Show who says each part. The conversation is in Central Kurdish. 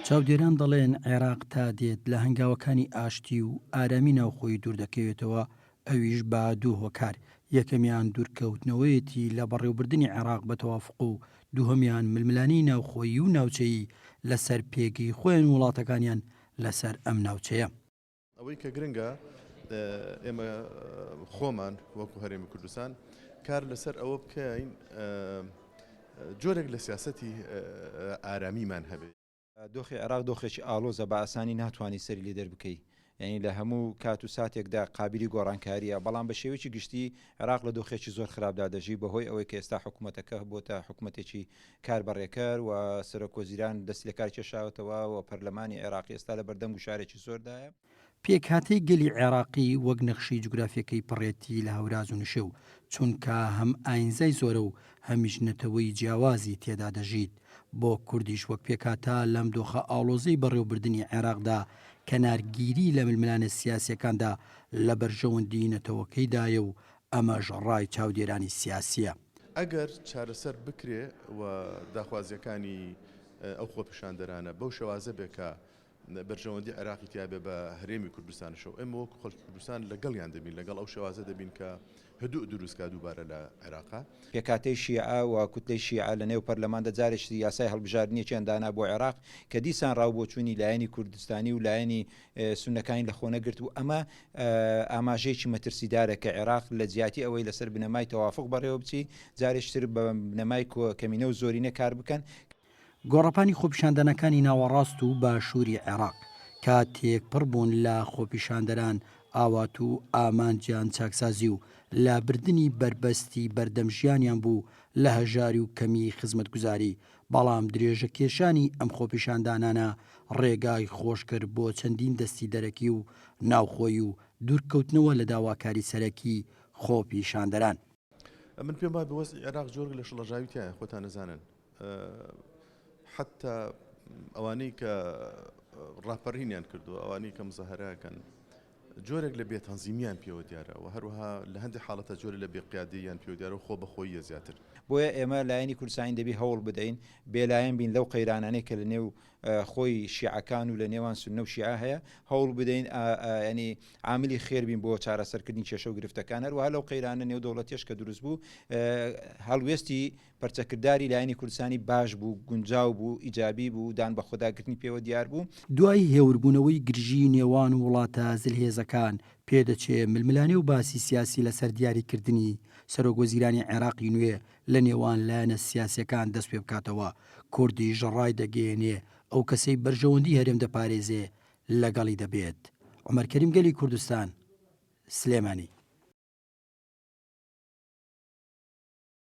Speaker 1: چاودێران دەڵێن عێراق تا دێت لە هەنگاوەکانی ئاشتی و ئارامی ناوخۆیی دووردەکەوێتەوە، ئەویش بە دوو هۆکار، یەکەمیان دوورکەوتنەوەیەتی لە بەڕێوبردنی عێراق بە تەوافق و دووهەمیان ململانێی ناوخۆیی و ناوچەیی لەسەر پێگەی خۆیان و وڵاتەکانیان لەسەر ئەم ناوچەیە. ئەوەی کە
Speaker 2: گرنگە ئێمە خۆمان وەکو هەرێمی کوردستان کار لەسەر ئەوە بکەین جۆرێک لە سیاستی ئارامیمان هەبێت. دۆخی عێراق
Speaker 3: دۆخێکی ئاڵۆزە بە ئاسانی ناتوانی سەری لێ دەربکەی یانی لە هەموو کات و ساتێکدا قابیلی گۆڕانکاریە بەڵام بە شێوەیەکی گشتی عێراق لە دۆخێکی زۆر خراپدا دەژی بەهۆی ئەوەی کە ئێستا حکومەتەکە بۆتە حکومەتێکی کاربەڕێکەر و سەرۆک وەزیران دەستلەکارکێشاوەتەوە و پەرلەمانی عێراقی ئێستا لە بەردەم گوشارێکی زۆردایە. پێکهاتەی
Speaker 1: گەلی عێراقی وەک نەخشەی جوگرافیەکەی پڕێتی لە هەوراز و نشێو، چونکا هەم ئاینزای زۆرە و هەمیش نەتەوەی جیاوازی تێدا دەژیت، بۆ کوردیش وەک پێکهاتە لەم دۆخە ئاڵۆزەی بەڕێوبردنی عێراقدا کەنارگیری لە ململانێ سیاسیەکاندا لە بەرژەوەندی نەتەوەکەیدایە و ئەمەش ڕای چاودێرانی سیاسییە. ئەگەر
Speaker 2: چارەسەر بکرێ و داخوازییەکانی ئەو خۆپیشاندەرانە بەو شێوازە بێ کە بەرژەوەندی عێراقی تیا بێ بە هەرێمی کوردستانشەوە ئێمە وەکو خەڵکی کوردستان لەگەڵیان دەبین لەگەڵ ئەو شێوازە دەبین کە هدوء دروست کا دووبارە لە عێراقا. پێکهاتەی شیعە
Speaker 3: و کوتلەی شیعە لە نێو پەرلەماندا جارێکتر یاسای هەڵبژاردنێکیان دانا بۆ عێراق کە دیسان ڕاوبۆچوونی لایەنی کوردستانی و لایەنی سوننەکانی لە خۆ نەگرت و ئەمە ئاماژەیەکی مەترسیدارە کە عێراق لە جیاتی ئەوەی لەسەر بنەمای تەوافق بەڕێوە بچی جارێکی تر بە بنەمای کەمینە و زۆرینە کار بکەن گۆڕەپانی
Speaker 1: خۆپیشاندانەکانی ناوەڕاست و باشووری عێراق کە تێکپڕ بوون لە خۆپیشاندەران ئاوات و ئامانجیان چاکسازی و لابردنی بەربەستی بەردەم ژیانیان بوو لە هەژاری و کەمی خزمەتگوزاری بەڵام درێژە کێشانی ئەم خۆپیشاندانانە ڕێگای خۆش کرد بۆ چەندین دەستی دەرەکی و ناوخۆی و دوورکەوتنەوە لە داواکاری سەرەکی خۆپیشاندەران. من
Speaker 2: پێم وایە وەزعی عێراق جۆرگ لە شڵەژاوی تیایە خۆتان ئەزانن حەتتا ئەوانەی کە ڕاپەڕینیان کردووە ئەوانەی کە مزەهەرە ئەکەن جۆرێک لە بێتەنزیمییان پێوە دیارە و هەروەها لە هەندێ حاڵەتە جۆرێ لە بێقیادەییان پێوە دیارە و خۆبەخۆییە زیاتر. بۆیە ئێمە لایەنی
Speaker 3: کوردستانی دەبی هەوڵ بدەین بێلایەن بین لەو قەیرانانەی کە لە نێو خۆی شیعەکان و لە نێوان سوننە و شیعە هەیە، هەوڵ بدەین ئا یانی عاملی خێر بین بۆ چارەسەرکردنی کێشە و گرفتەکان، هەروەها لەو قەیرانە نێودەوڵەتیەش کە دروست بوو هەڵوێستی پەرچەکرداری لایەنی کوردستانی باش بوو، گونجاو بوو، ئیجابی بوو، دان بە خۆداگرتنی پێوە دیار بوو. دوای هێوربوونەوەی
Speaker 1: گرژیی نێوان وڵاتە زلهێزەکان، پێدەچێ ململانێ و باسی سیاسی لەسەر دیاریکردنی سەرۆکوەزیرانی عێراقی نوێ لە نێوان لایەنە سیاسییەکان دەست پێ بکاتەوە، کوردیش ڕایدەگەیێنێ ئەو کەسەی بەرژەوەندیی هەرێم دەپارێزێ لەگەڵی دەبێت. عومەر کەریم گەلی کوردستان، سلێمانی.